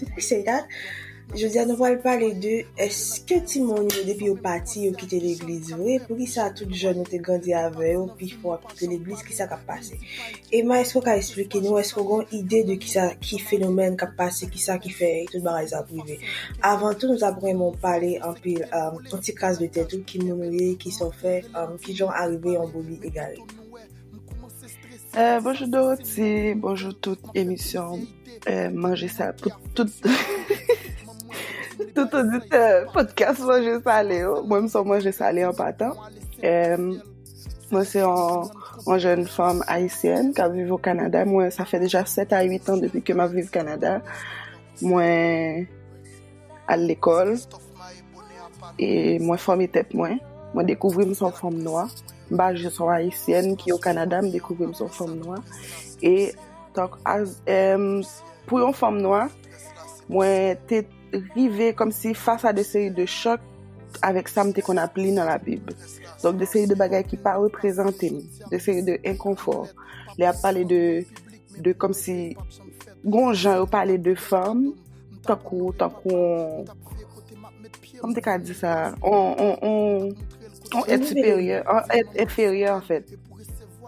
Depi se dat, jodi a nou pral pale de eske timoun yo depi yo pati yo kite legliz vre, poukisa tout jèn nou te grandi avè yo pifò ap kite legliz, kisa kap pase? Emma eske ou ka esplike nou, eske ou gen yon ide de kisa ki fenomèn kap pase, kisa ki fè tout bagay sa ap rive? Avan tou nou tap renmen ou pale anpil, yon ti kras de tèt ou, ki moun ou ye, kisa ou fè, kijan ou arive yon brebis egare? Eh, bonjou Doroti, bonjou tout emisyon eh, manje sa pou tout tout odite podcast manje sale yo. Mwen m son manje sale an patan. Eh, mwen se an an jèn fanm ayisyen ka viv o Kanada. Mwen sa fè deja 7 a 8 an depi ke m ap viv Kanada. Mwen al lekòl e mwen fòme tèt mwen. Mwen dekouvri m s on fanm nwa. M pa jis yon Ayisyèn ki o Kanada, m dekouvri m s on fanm nwa. E tank as e pou yon fanm nwa, mwen te rive kòmsi fas a de seri de chòk avèk sa m te konn ap li nan labib. Donk de seri de bagay ki pa reprezante m, de seri de enkonfò. Lè y ap pale de kòmsi gen yon jan yo pale de fanm. Tankou, tankou on, kòm m te ka di sa, on, on, on, on èt siperyè, on èt enferyè an fèt.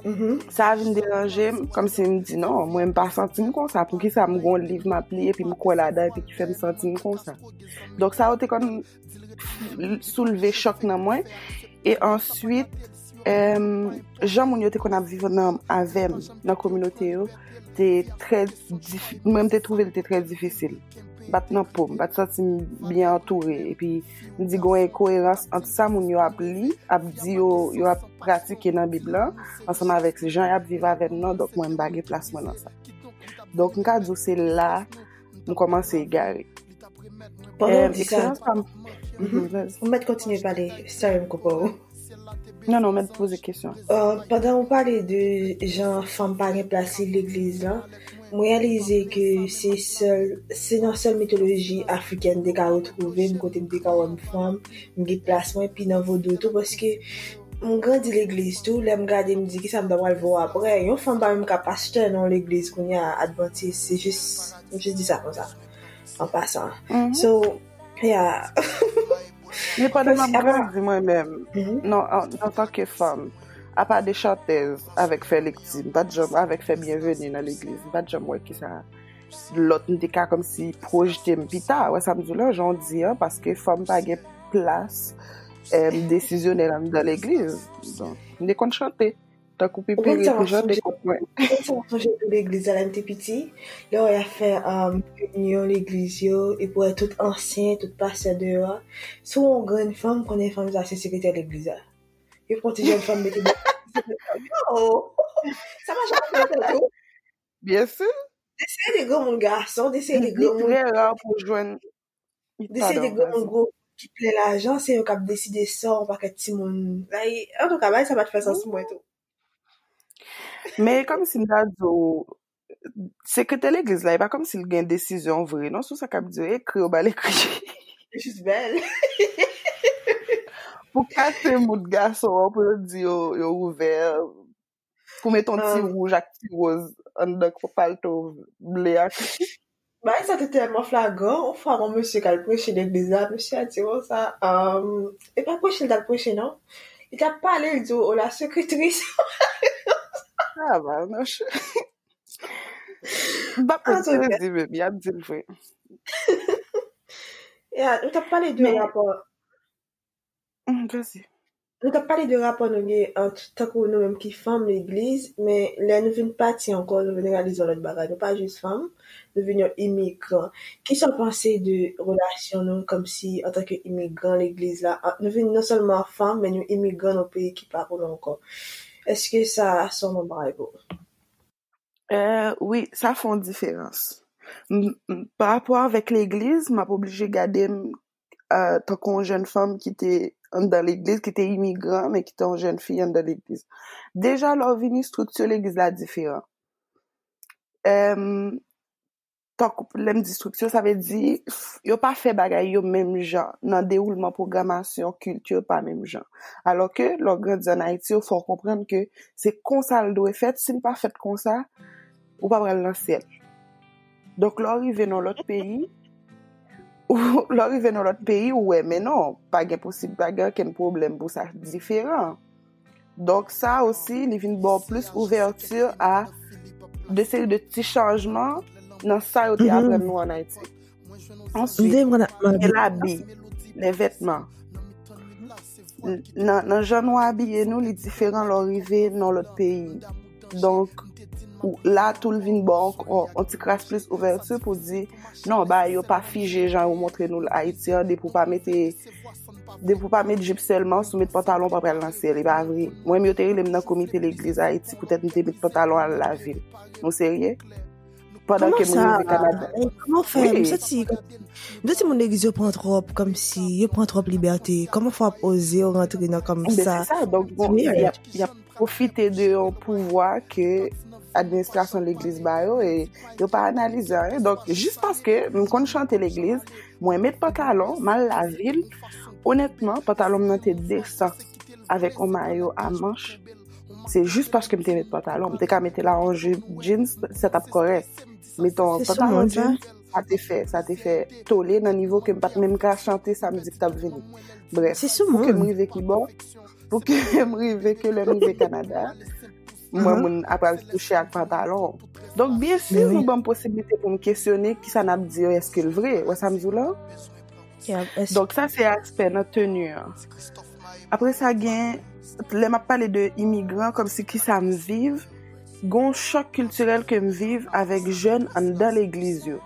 Mm-hmm. Sa a vin deranje m, kòm si m di non, mwen m pa santi m konsa, pou ki sa m gon liv m ap li epi m kwè ladan epi ki fè m santi m konsa. Donk sa yo te konn soulve chòk nan mwen e answit jan moun yo te kon ap viv nan avèm nan kominote yo te trè mwen te twouve l te trè difisil bat nan poum, bat santi m byen antoure epi m di gwen e koerans ant sa moun yo ap li ap di yo, yo ap pratike nan bib lan ansanm avèk jan y ap viv avèm nan donk mwen m pa gen plas mwen nan sa donk m ka di w se la m komanse egare. Pandan w di sa, ou mèt kontinye pale, sorry m koupe w. Non, non, mèt pose kesyon. Pandan w pale de jan fanm pa gen plas li legliz la, m reyalize ke se sèl, se nan sèl mitoloji afrikèn m te ka retwouve m kote m te ka wè m fanm, m gen plas mwen, epi nan vodou tou paske M grandi legliz tou, lèm gade m di kisa m ta pral vo aprè, yon fanm pa menm ka pastè nan yon legliz kounya advantis, se jis m jis di sa konsa an pasan so yeah. Men pandan map grandi mwen menm nan antanke fanm apa de chantèz avèk fè lekti m pat janm avèk fè byenveni nan legliz m pat janm wè kisa lòt m te ka kòmsi pwojte m pita, wè sa m di w la, jan w di an, paske fanm pa gen plas desizyonèl anndan legliz. Donk, m te konn chante. Tankou Pipiri te chante kont mwen. Ou konn sa m ap sonje pou legliz la lè m te piti? Lè w wè y ap fè reyinyon legliz yo, epi w wè tout ansyen, tout pastè deyò a, si w yon grenn fanm, ou konnen fanm sa se sekretè legliz la. Yo pran ti jèn fanm mete deyò. Yo! Sa pa janm fèt ankò. Byen si. Des seri de granmoun gason, des seri de Li granmoun trè ra pou w jwenn. Des seri de Padon, granmoun vas-y. gwo ki plen lajan, se yo k ap deside sò yon pakèt timoun. Like, antouka, bagay sa pa t fè sans pou mwen tou. Men e kòmsi m ta di w, sekretè legliz la, e pa kòmsi l gen desizyon vre non sou sa k ap di yo. Ekri yo ba l ekri. Yo jis bèl. Pou kase moud gason an, pou yo di yo yo ouvè. Pou met yon ti wouj ak ti woz anndan palto ble a. Bagay sa te tèlman flagran, yon fwa yon mesye k al preche legliz la, mesye a di konsa, e pa preche l t al preche non, li t ap pale l di w ola sekretris. Sa va mèche. M pa konn sa yo di menm, y ap di l vre. Ou t ap pale de rapò. Grace. Nou tap pale de rapò nou gen ant tankou nou menm ki fanm legliz men lè nou vin pati ankò nou vin reyalize yon lòt bagay nou pa jis fanm nou vin yon imigran kisa w panse de relasyon nou kòmsi antanke imigran legliz la ant nou vin non sèlman fanm men nou imigran nan yon peyi ki pa pou nou ankò èske sa son bon bagay pou ou? Wi sa fè yon diferans, pa rapò avèk legliz m ap oblije gade m tankou yon jèn fanm ki te anndan legliz, ki te imigran men ki te yon jèn fi anndan legliz. Deja lè w vini estrikti legliz la diferan. tankou pwoblèm distriksyon, sa vle di yo pa fè bagay yo menm jan nan dewoulman pwogramasyon kilti yo pa menm jan. Alò ke lè w grandi an Ayiti yo fè w konprann ke se konsa l dwe fèt, si l pa fèt konsa, ou pa pral nan syèl. Donk lè w rive nan yon lòt peyi, lè w rive nan yon lòt peyi ou wè men non, pa gen posib, pa gen okenn pwoblèm pou sa diferan. Donk sa osi li vin baw plis ouvèti a de seri de ti chanjman nan sa yo te mhm. apren nou an Ayiti. Answit, gen la bi, le vetman. Nan jan nou abiye nou li diferan lò rive nan lòt peyi. Donk, la tou l vin ba w yon ti kras plis ouvèti pou w di, non, bagay yo pa fije jan yo montre nou l Ayiti an, depi w pa mete, depi w pa met jip sèlman, si w met pantalon, w pa pral nan syèl, e pa vre. Mwen menm yo te rele m nan komite legliz Ayiti poutèt m te met pantalon al lavil. Nou serye? Pandan ke moun rive Kanada. Kouman sa? Kouman fè? M santi moun legliz yo pran twòp kòm si yo pran twòp libète. Kouman fè w ap oze w rantre nan kòm sa? Se sa, donk bon, y ap pwofite de yon pouvwa ke administrasyon legliz ba yo e yo pa analize anyen. Donk, jis paske m konn chante legliz, mwen met pantalon, m al lavil, onètman, pantalon m nan te desan avèk yon mayo a manch. Se jis paske m te met pantalon. M te ka mete la an jip, jeans, se tap korek. Meton, pantalon jeans, sa te fè, sa te fè tole nan nivou ke m pat menm ka chante sa mizik tap vini. Bref, pou ke m rive ki bon, pou ke m rive ke lè m rive Kanada, mwen moun apal touche ak pantalon. Donk, byen si nou banm posibilite pou m kesyone ki sa nap di yo eske l vre. Wè sa m di w la? Donk sa se aspè nan teni an. Apre sa gen, lè m ap pale de imigran, kòm si ki sa m viv, gen yon chòk kiltirèl ke m viv avèk jèn anndan legliz yo.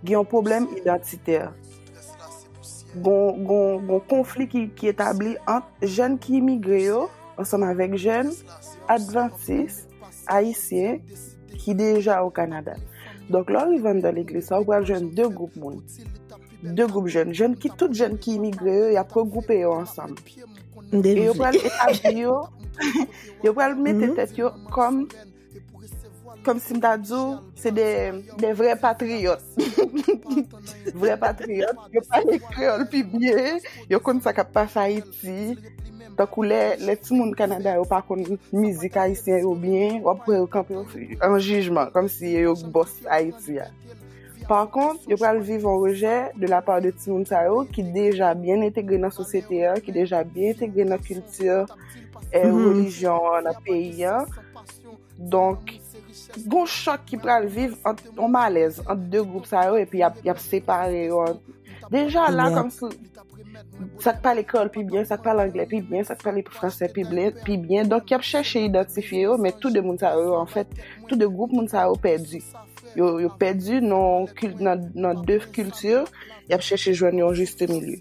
Gen yon pwoblèm idantitè. Gen yon konfli ki etabli ant jèn ki imigre yo, ansanm avèk jèn advantis, Ayisyen ki deja o Kanada. Donk, lè w rive anndan legliz sa a, ou pral jwenn de gwoup moun, de gwoup jèn. Jèn ki, tout jèn ki imigre yo, y ap regwoupe yo ansanm. E yo pral etabli yo, yo pral mete tèt yo kòm, kòm si m ta di w, se de, de vrè patriyòt. Vrè patriyòt, yo pale kreyòl pi byen, yo konn sa k ap pase Ayiti. Ayiti, tankou lè lè ti moun Kanada yo pa konn mizik ayisyen yo byen, wap wè yo kanpe an jijman kòmsi ye yo k bòs Ayiti a. Pa kont, yo pral viv yon rejè de la pa de ti moun sa yo ki deja byen entegre nan sosyete an, ki deja byen entegre nan kilti, relijyon an nan peyi an. Donk, gon chòk ki pral viv ant yon malèz ant 2 gwoup sa yo epi y ap separe yo. Deja la kòm si sa k pale kreyòl pi byen, sa k pale angle pi byen, sa k pale franse pi byen. Donk, y ap chèche idantifye yo men tou 2 moun sa yo anfèt, tou 2 gwoup moun sa yo pèdi. Yo pèdi nan 2 kilti, y ap chèche jwenn yon jistemilye.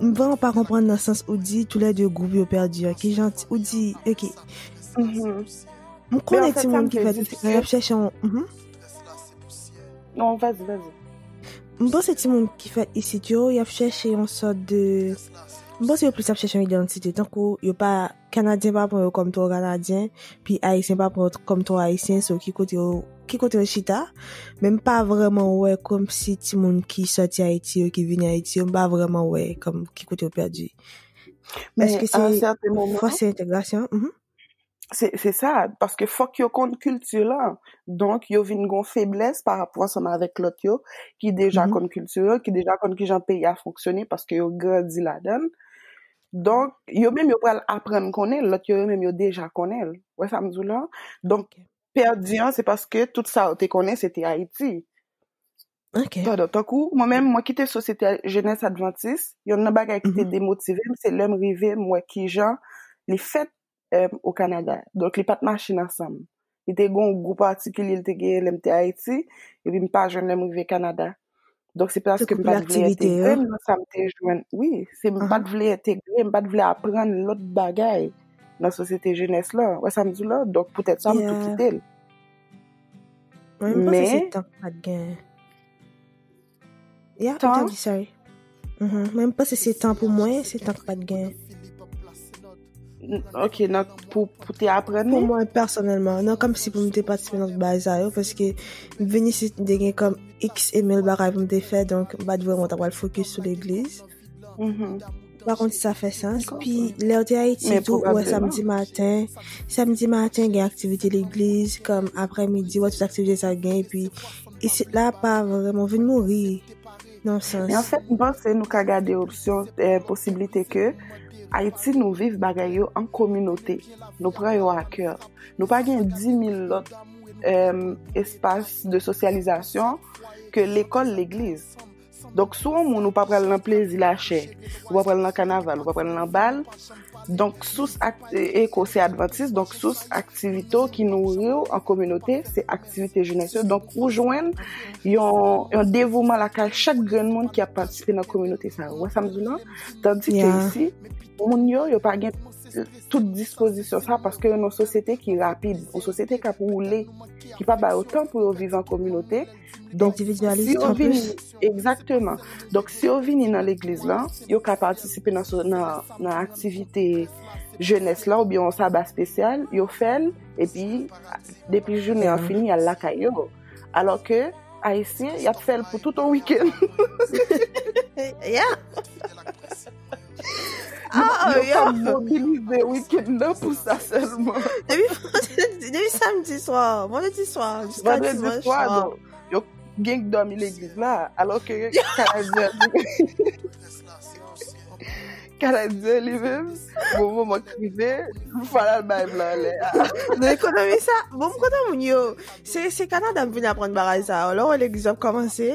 M vreman pa konprann nan sans ou di tou lè 2 gwoup yo pèdi an ki jan ou di ok m konnen ti moun ki pèdi an y ap chèche yon non vas y vas y m panse ti moun ki fèt isit yo y ap chèche yon sòt de m panse yo plis ap chèche yon idantite tankou yo pa Kanadyen pa pran yo kòm twò kanadyen, pi ayisyen pa pran yo kòm twò ayisyen, so ki kote yo, ki kote yo chita? Men m pa vrèman wè kòmsi timoun ki sòti Ayiti yo, ki vini Ayiti yo, m pa vrèman wè kòm ki kote yo pèdi. Èske se fòse entegrasyon? Se sa, paske fòk yo konn kilti la, donk yo vin gon feblès pa rapò ansanm avèk lòt yo ki deja konn kilti yo, ki deja konn kijan peyi a fonksyone paske yo grandi ladan l. Donk, yo menm yo pral aprann konnen l, lòt yo yo menm yo deja konnen l. Wè sa m di w la? Donk, pèdi an se paske tout sa yo te konnen se te Ayiti. Ok. Pandan tankou, mwen menm, mwen kite Sosyete Jenès Advantis, yonn nan bagay ki te demotive m, se lè m rive m wè kijan li fèt o Kanada. Donk li pa t mache nan san m. Li te gen yon gou patikilye li te genyen lè m te Ayiti, epi m pa jwenn lè m rive Kanada. Donk se paske m pa t vle entegre m nan sa m te jwenn. Wi, se m pa t vle entegre, m pa t vle aprann lòt bagay nan sosyete jenès la. Ou wè sa m di w la? Donk poutèt sa m tou kite l. Men, m panse se tan k pa t gen. Ya, ou ta di sa e. Mwen m panse se tan pou mwen, se tan k pat gen. Ok, nan pou te apren ni? Pou mwen personelman, nan kom si pou mwen te patisipe nan bay sa yo, paske vini si te gen kom x emil bagay pou mwen te fè, donk bat vwe mwen ta wale fokus sou l'eglise. Mpa konn si sa fè sans, pi lèw te Ayiti tou wè samdi maten, samdi maten gen aktivite legliz, kòm aprè midi wè tout aktivite sa gen, epi isit la pa vreman vin mouri, nan sans. Men anfèt mpanse nou ka gade opsyon, posiblite ke Ayiti nou viv bagay yo an kominote, nou pran yo a kè, nou pa gen 10.000 lòt espas de sosyalizasyon ke lekòl, legliz. Donk sou yon moun ou pa pral nan plezi la chè, ou pa pral nan kanaval, ou pa pral nan bal, donk sous ak eko se advantis, donk sous aktivito ki nou riw an kominote se aktivite jounes yo, donk ou jwen yon devouman la ka chak gren moun ki ap patisipe nan kominote sa. Ou wè sa m di w lan? Tandi ke isi, moun yo yo pa gen tout dispozisyon sa paske yon sosyete ki rapid, yon sosyete kap woule, ki pa ba yo tan pou yo viv an kominote. Donk, si yo vini, egzakteman, donk si yo vini nan legliz lan, yo ka patisipe nan aktivite jenès la ou byon sa ba spesyal, yo fèl, epi depi jounen an fini, yal lakay yo. Alò ke, ayisyen, yap fèl pou tout on wikèn. Ya! Ah, yo ka mobilize week-end nan pou sa selman. Depi samedi soir, vendredi soir, jiska dimanche soir. Vendredi soir, yo genk domi l'eglise la, alo ke kanadyen kanadyen li men, bon bon mwen krive, mwen fara bay blan lè. Nan ekonomi sa, bon mwen kontan moun yo, se kanadyen mwen vin apren baraj sa, alo l'eglise ap komanse.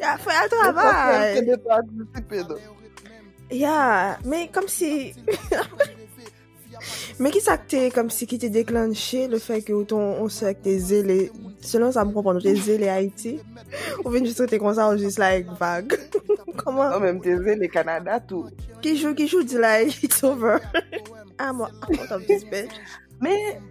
Ya fè a travay. Ya, men kom si... Men ki sa ki te kom si ki te deklanche le fè ke ou te on sè ki te zele, selon sa m konpon, ou te zele Ayiti, ou vin jist rete konsa, ou jist like vag. Koman? Ou menm te zele Kanada tou. Ki jou, ki jou di like, it's over. I'm out of this bitch. Men...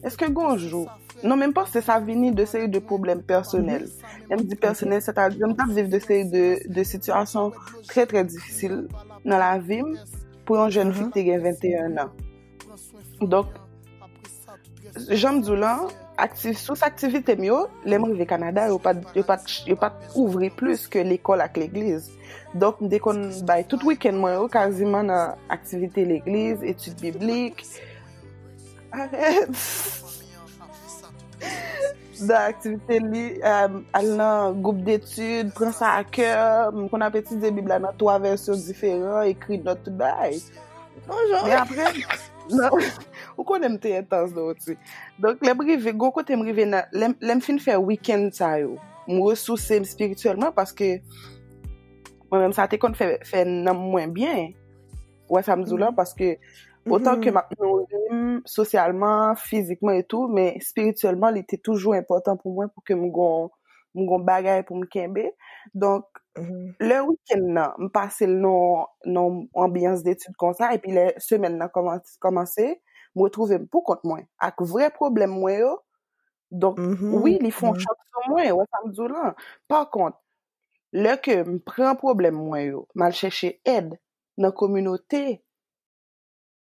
Eske gonjou, non menm panse sa vini de seri de problem personel. Menm di personel, se ta di menm tap viv de seri de situasyon tre tre difisil nan la vim pou yon jen fik te gen 21 nan. Donk, janm di w lan, sous aktivite m yo, lem rive Kanada, yo pat ouvri plus ke lekol ak legliz. Donk, m de kon bay tout weekend mwen yo kaziman nan aktivite legliz, etid biblik, Arèt! Nan aktivite li, euh, al nan gwoup detid, pran sa a kè, m konn ap etidye Bib la nan twa vèsyon diferan, ekri nòt tout bagay. Bonjou! Men apre, nan, ou konnen m te entans Dorothie. Donk, lè m rive, gon kote m rive nan, lè m, lè m fin fè wikenn sa yo, m resouse m spirityèlman paske mwen menm sa te konn fè, fè nanm mwen byen. Ou wè sa m di w la? Paske, otan ke m ap nouri m sosyalman, fizikman etou, men espirityèlman li te toujou enpòtan pou mwen pou ke m gon bagay pou m kenbe. Donk, lè wikenn nan, m pase l nan anbyans detid konsa, epi lè semèn nan kòmanse, m retwouve m pou kont mwen, ak vre pwoblèm mwen yo. Donk, wi, li fon chak sou mwen, ou wè sa m di w la? Pakont, lè ke m pran pwoblèm mwen yo, m al chèche èd nan kominote.